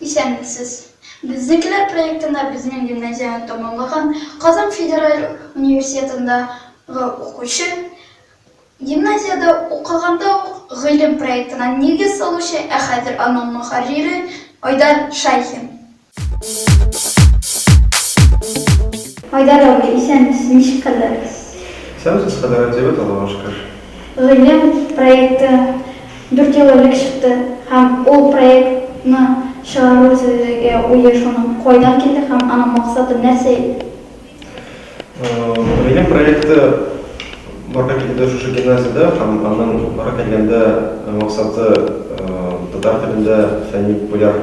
Исәнмесез. Безнекеләр проектында безнең гимназияне тәмамлаган Казан федераль университетындагы укучы, гимназиядә укыганда ук гыйлем проектына нигез салучы, ә хәзер аның мөхәррире Айдар Шайхин. Айдар абый, исәнмесез, ничек калдыгыз? Исәнмесез, Хәдәр Әбдибет, Аллаһуга шөкер. Гыйлем проекты дүрт ел элек чыкты һәм ул проектны чыгару сезгә уе шуның кайдан килде һәм аның максаты нәрсә Минем проекты барга килгәндә шушы гимназиядә һәм аның барга килгәндә максаты татар телендә фәнни популяр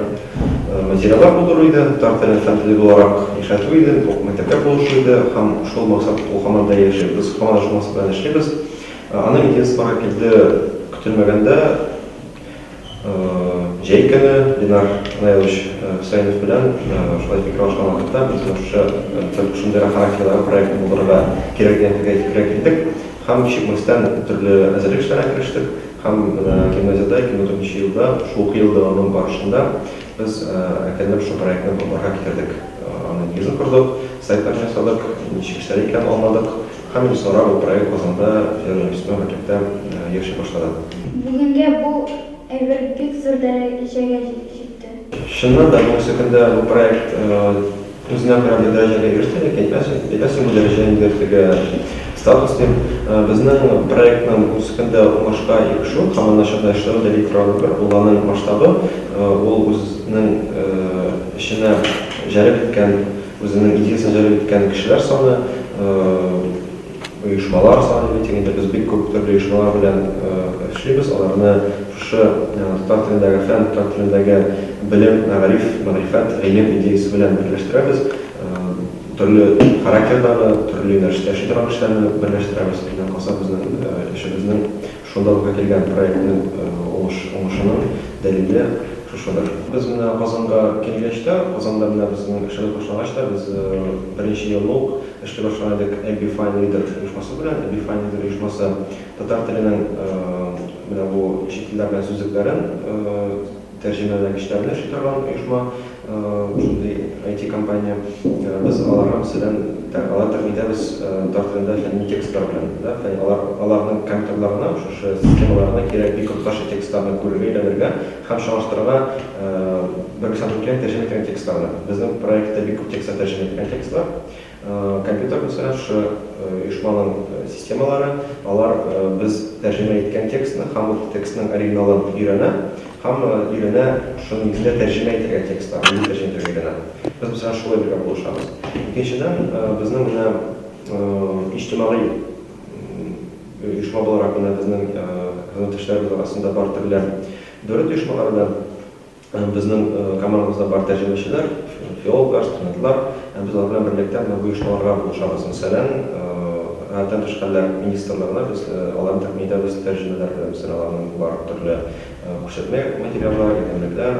материаллар булдыру иде, татар телен фән теле буларак яшәтү иде, бу мәктәпкә булышу иде һәм шул максат ул һаман да яши, без һаман да шул максат белән эшлибез. Аның идеясе барга килде көтелмәгәндә. Җәй көне Ленар Наилович Хөсәенов белән шулай фикерләшкән вакытта, без менә шушы бер шундыйрак характерлы проектны булдырырга кирәк дигән фикергә фикергә килдек һәм ничек белсәң төрле әзерлек эшләренә керештек һәм менә гимназиядә 24 нче елда шул уку елы дәвамы барышында без әкренләп шул проектны барлыкка китердек. Аның нигезен кордык, сайтларны ясадык, ничек эшләр икәнен аңладык. Һәм сара бу проект базында җәмигъ ислам мәктәптә яши башлады. Бүгенгә бу әйбер бик зур дәрәҗәгә җитте. Чыннан да, бүгенге көндә бу проект үзенә күрә бер дәрәҗәгә иреште, ләкин әйтерсең бу дәрәҗә инде теге статус дип, безнең проектның бүгенге көндә уңышка ирешү һәм анда чатнашырга дәлил торган бер ул аның масштабы, ул үзенең эченә җәлеп иткән, Үзенең идеясын җәлеп иткән кешеләр саны, оешмалар саны, митингында без бик күп төрле оешмалар белән эшлибез, аларны шушы татар телендәге фән, татар телендәге белем, мәгариф, мәгърифәт, гыйлем идеясе белән берләштерәбез, төрле характердагы, төрле юнәлештә эшли торган кешеләрне берләштерәбез, Илнар Касаб безнең эшебезнең Шунда ук бетергән проектның уңышының дәлиле шушыдыр. Без менә Казанга килгәч тә, Казанда менә безнең эшебез башлангач та, без беренче елны ук эшли башлаган идек Abbey Fine Leader оешмасы белән. Abbey Fine Leader оешмасы татар теленең менә бу чит телләр белән сүзлекләрен, Тәрҗемәләгечләрне эшли торган оешма, шундый IT-компания. Без аларга, мәсәлән, алар тәкъдим итәбез татар телендә фәнни текстлар белән, да, фәнни, алар, аларның компьютерларына шушы системаларына кирәк бик күп татарча текстларны күрергә, өйрәнергә һәм чагыштырырга бер-берсенә туры килгән тәрҗемә ителгән текстларны. Безнең проектта бик күп текстлар тәрҗемә ителгән текстлар. Компьютер үстерәше оешманың системалары, алар без тәрҗемә иткән текстны һәм ул текстның оригиналын өйрәнә һәм өйрәнә шуның нигезендә тәрҗемә итәргә текстка, үзе тәрҗемә итәргә өйрәнә. Без мәсәлән шулай белергә булышабыз. Икенчедән, безнең менә иҗтимагый оешма буларак менә безнең хезмәттәшләребез арасында бар төрле дәүләт оешмалары белән, Һәм безнең командабызда бар тәҗрибәчеләр, филологлар, студентлар. Һәм без алар белән берлектә менә бу оешмаларга булышабыз. Мәсәлән, Гадәттән тыш хәлләр министрлыгына без аларны тәкъдим итәбез, тәрҗемәләр белән сер аларның бар төрле күрсәтмә материаллар, ярдәмлекләр,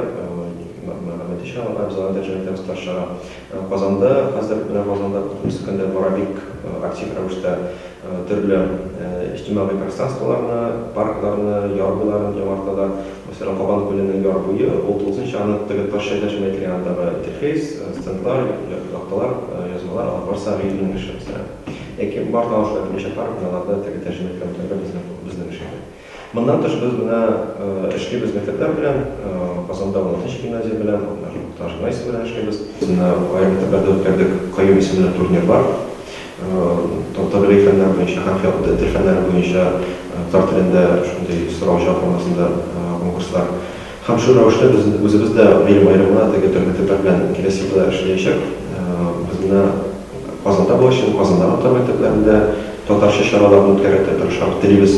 мәгълүмати чаралар, без аларны тәрҗемә итәбез татарчага. Казанда хәзер, менә Казанда кызым үскәндә бара бик актив рәвештә төрле иҗтимагый пространстволарны, паркларны, яр буйларын яңарталар. Мәсәлән, Кабан күленең яр буе, ул тулысынча аны теге таш чәйдән җәмәгатьләр янындагы интерфейс, стендлар, яктылар, язмалар, алар барысы да районның эше, мәсәлән. Ләкин бар танышлар, берничә парк, менә аларда теге тәрҗемә километрда безнең, безнең эш иде. Моннан тыш без менә эшлибез мәктәпләр белән, Казанда уналтынчы гимназия белән, аннары Мохтар Жинаевский белән эшлибез. Без менә аерым мәктәпләрдә үткәрдек Каюм исемле турнирлар. Табигый фәннәр буенча һәм фәкылтә тел фәннәре буенча татар телендә шундый сорау-җавап формасында конкурслар. Һәм шул рәвештә без үзебез дә гыйлем аерымына теге төрле төбәк белән киләсе елда эшләячәк. Без менә Казанда булыр өчен Казандагы татар мәктәпләрендә татарча чараларны үткәрергә тырышабыз, телибез.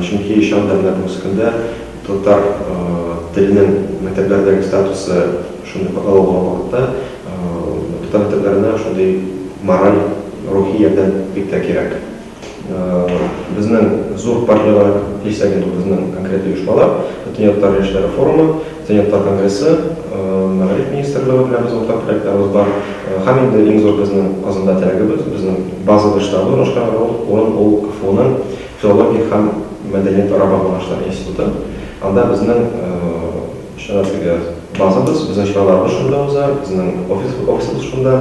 Чөнки чын да менә бүгенге көндә татар теленең мәктәпләрдәге статусы шундый катлаулы булган вакытта татар мәктәпләренә шундый мораль, рухи ярдәм бик тә кирәк. Безнең зур партнерлар килсәк инде безнең конкрет оешмалар, студентлар яшьләре форумы, студентлар конгрессы, мәгариф министрлыгы белән без уртак проектларыбыз бар. Һәм инде иң зур безнең Казанда терәгебез, безнең базовый штабы урнашкан урын ул КФУның филология һәм мәдәниятара багланышлар институты. Анда безнең чын базабыз, безнең чараларыбыз шунда уза, безнең офисыбыз шунда.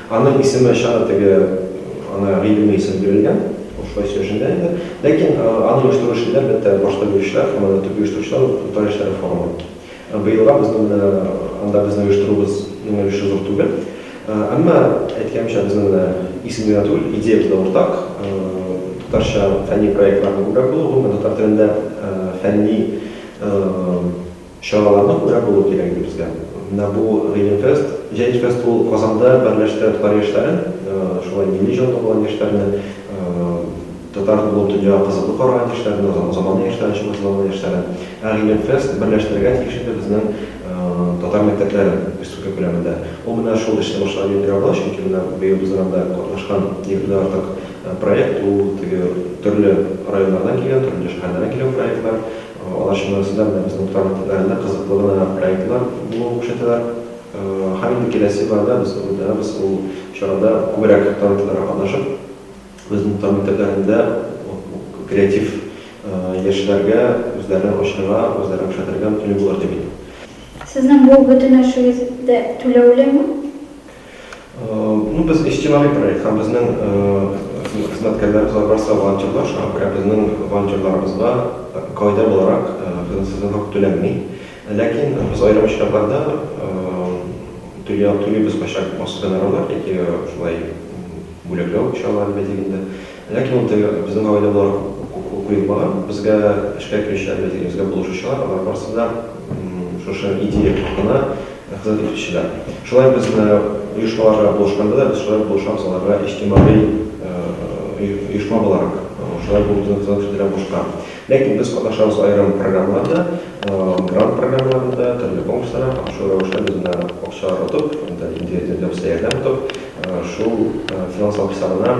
Аның исеме чара теге ана гыйлеме исеме бирелгән, ул шулай сөйләшә дә инде. Ләкин аны оештыру эшендә, әлбәттә, башта белгечләр һәм аны төп оештыручылар ул Татар яшьләре форумы. Быелга безнең менә анда безнең оештыруыбызның өлеше зур түгел. Әмма, әйткәнемчә, безнең менә исем генә түгел, идеябез дә уртак. Татарча фәнни проектларны күбрәк булу, гомумән, татар телендә фәнни Чараларны күрә булу кирәк иде безгә. Менә бу Ленинфест, Җәнфест ул Казанда берләштерә татар яшьләрен, шулай милли җанлы булган яшьләрне, татар булып дөньяга кызыклы караган яшьләрне, замана яшьләрен, чыннан замана яшьләрен. Ә Ленинфест берләштерергә тиеш иде безнең татар мәктәпләрен республика күләмендә. Ул менә шул эшне башлап җибәрә ала, чөнки менә быел безнең анда катнашкан егермедән артык проект, ул теге төрле районнардан килгән, төрле шәһәрләрдән килгән проектлар. Алар чыннан-чыннан да безнең тормыш төбәгендә кызыклы гына проектлар булуын күрсәтәләр. Һәм инде киләсе барда без өметләнәбез ул чарада күбрәк талантлыларга катнашып, безнең тормыш төбәгендә креатив яшьләргә үзләрен ачарга, үзләрен күрсәтергә мөмкинлек булыр дип уйлыйм. Сезнең бу бөтен эшегез дә түләүлеме? Ну, без иҗтимагый проект һәм безнең хезмәткәрләребез, алар барысы да волонтерлар. Шуңа күрә безнең волонтерларыбызга кагыйдә буларак финансовый хак түләнми. Ләкин без аерым очракларда түлибез, кайчак махсус гонорарлар яки шулай бүләкләү акчалар, нидер инде. Ләкин ул теге безнең гаилә буларак ук уку йоклаган, безгә эшкә керүчеләр, бәйтерегезгә булышучылар, алар барысы да шушы идея хакына хезмәт итүчеләр. Шулай без оешмаларга булышканда да, без шулай булышабыз аларга иҗтимагый оешма буларак. Шулай бу безнең хезмәт кешеләргә булышка. Ләкин без катнашабыз аерым программаларда, грант программаларында, төрле конкурсларга катнашуы рәвешле без менә акчалар отып, анда инде нәрсә ярдәм отып, Шул финанс алышларына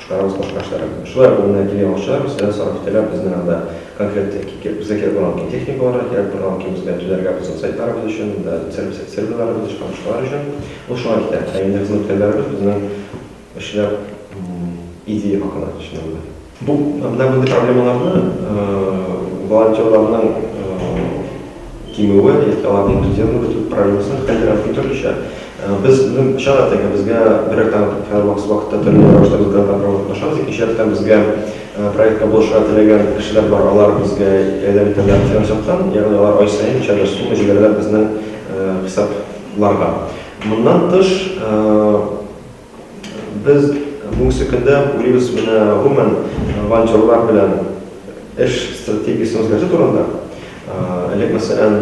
кушканыбыз башка эшләр дә күп. Шулай ук ул менә килгән акча Русиядән сарыф ителә, безнең анда конкрет безгә кирәк булган кин техникаларга, кирәк булган кин безгә түләргә безнең сайтларыбыз өчен, серверларыбыз өчен һәм башкалар өчен. Ул шуңа китә. Ә инде хезмәткәрләребез безнең эшләп идея хакына төшенәләр. Бу менә мондый проблемаларны волонтерларның кимүе яки аларны энтузиазмы бетү проблемасын хәл итәргә мөмкин төрлечә. Без бүген чак та тегә, безгә бер яктан һәр вакыт вакытта төрле рәвештә без грантка проводка катнашабыз, икенче яктан безгә проектка булышырга теләгән кешеләр бар, алар безгә ярдәм итәләр финанс яктан, ягъни алар ай саен ничә дә сумма җибәрәләр безнең хисапларга. Моннан тыш. Без бүгенге көндә уйлыйбыз менә гомумән волонтерлар белән эш стратегиясен үзгәртү турында. Элек, мәсәлән,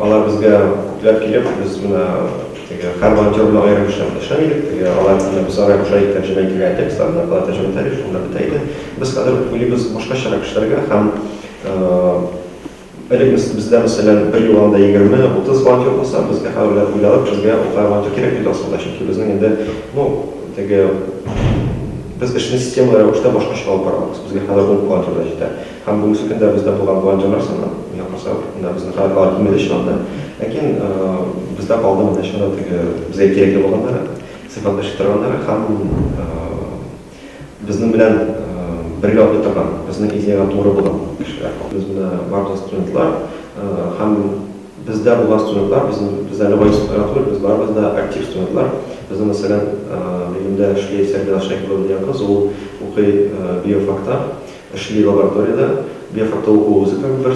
алар безгә күпләп килеп, без менә теге һәр волонтер белән аерым эшләп эшләми идек. Теге алар менә без алар аша итеп тәрҗемә итергә текстларны, алар тәрҗемә итәр иде, шунда бетә иде. Без хәзер уйлыйбыз башкачарак эшләргә һәм Элек без, бездә, мәсәлән, бер юл анда егерме, утыз волонтер булса, безгә хәзер белән уйланып, безгә ул кадәр волонтер кирәк түгел асылда, чөнки безнең инде, ну, теге, без эшне системалы рәвештә башкача алып барабыз, безгә хәзер ун волонтер да җитә. Һәм бүгенге көндә бездә булган волонтерлар саны, миңа калса, менә безнең хәзер алар кимеде чын анда, ләкин бездә калды менә чын да теге безгә кирәкле булганнары, сыйфатлы эшли торганнары һәм, Безнең белән бергә укый торган, безнең идеягә туры булган кешеләр. Без менә барыбыз студентлар һәм бездә булган студентлар, без әле аспирант түгел, без барыбыз да актив студентлар. Безнең, мәсәлән, белемдә эшли Сәрбиназ Шәйхуллина дигән кыз, ул укый биофакта, эшли лабораториядә. Биофакта укуы үзе бер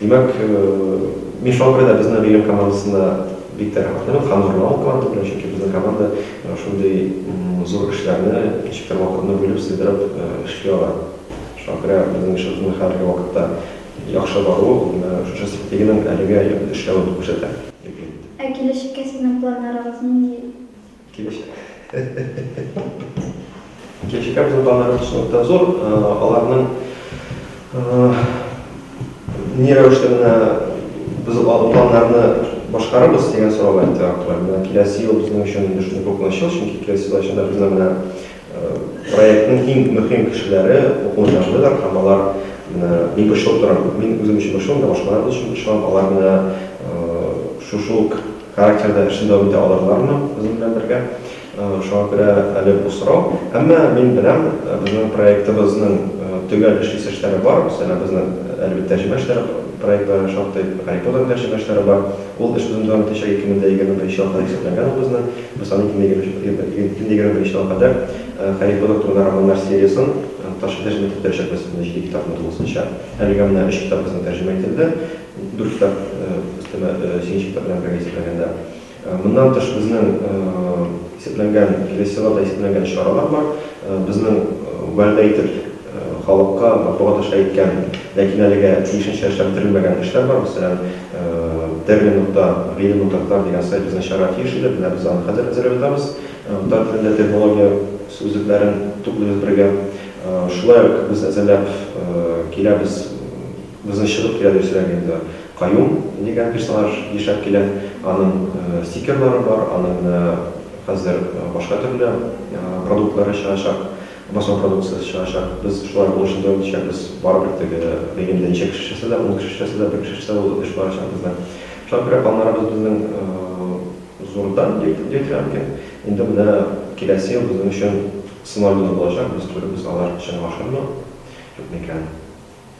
Димәк, мин шуңа күрә дә безнең район командасына бик тә рәхмәтлемен һәм зурланам команда белән, чөнки безнең команда шундый зур эшләрне ничектер вакытны бүлеп, сыйдырып эшли ала. Шуңа күрә безнең эшебезнең хәзерге вакытта яхшы баруы ул менә шушы стратегиянең әлегә эшләвен күрсәтә дип уйлыйм. Ә киләчәккә сезнең планнарыгыз нинди? Килеш. Килешкән тылбаннарның чынлыкта зур, аларның ни рәвештә генә без планнарны башкарабыз дигән сорау әйтте авторлар. Менә киләсе ел безнең өчен инде шундый куркыныч ел, чөнки киләсе ел ачында безнең менә проектның иң мөһим кешеләре укуны тәмамлыйлар һәм алар менә мин борчылып торам. Мин үзем өчен борчылам да, башкалар өчен борчылам. Алар менә шушы ук Характерда эшне дәвам итә алырлармы безнең белән бергә? Шуңа күрә әле бу сорау. Әмма мин беләм, безнең проектыбызның төгәл эшлисе эшләре бар. Мәсәлән, безнең, әлбәттә, тәрҗемә эшләре проектлары шактый, Гарри Поттерның тәрҗемә эшләре бар. Ул эш үзен дәвам итәчәк, 2021 елга кадәр исәпләнгән ул безнең. Мәсәлән, 2021 елга кадәр Гарри Поттер турында романнар сериясен татарча тәрҗемә итеп бетерәчәкбез, менә җиде китапны тулысынча. Әлегә менә өч китап безнең тәрҗемә ителде. Дүрт штат өстәмә җиңү счеты белән бергә исәпләнгәндә. Моннан тыш безнең исәпләнгән, киләсе елга да исәпләнгән чаралар бар. Безнең вәгъдә итеп халыкка матбугат аша әйткән, ләкин әлегә тиешенчә эшләп бетерелмәгән эшләр бар. Мәсәлән, Термин нокта гыйлеме Татар дигән сайт безнең чарга тиеш иде, менә без аны хәзер әзерләп ятабыз. Татар телендә технология сүзлекләрен туплыйбыз бергә. Шулай ук без әзерләп киләбез Безнең чыгып килә дисәләр инде Каюм дигән персонаж яшәп килә. Аның стикерлары бар, аның менә хәзер башка төрле продуктлары чыгачак, басма продукциясе чыгачак. Без шулай булышып дәвам итәчәкбез. Барыбер теге бәйрәмдә ничә кеше эшләсә дә, ун кеше эшләсә дә, бер кеше эшләсә дә ул эш барачак бездә. Шуңа күрә планнарыбыз безнең зурдан дип дип әйтергә мөмкин. Инде менә киләсе ел безнең өчен сынау елы булачак, без күрербез алар чынга ашармы, юкмы икәнен.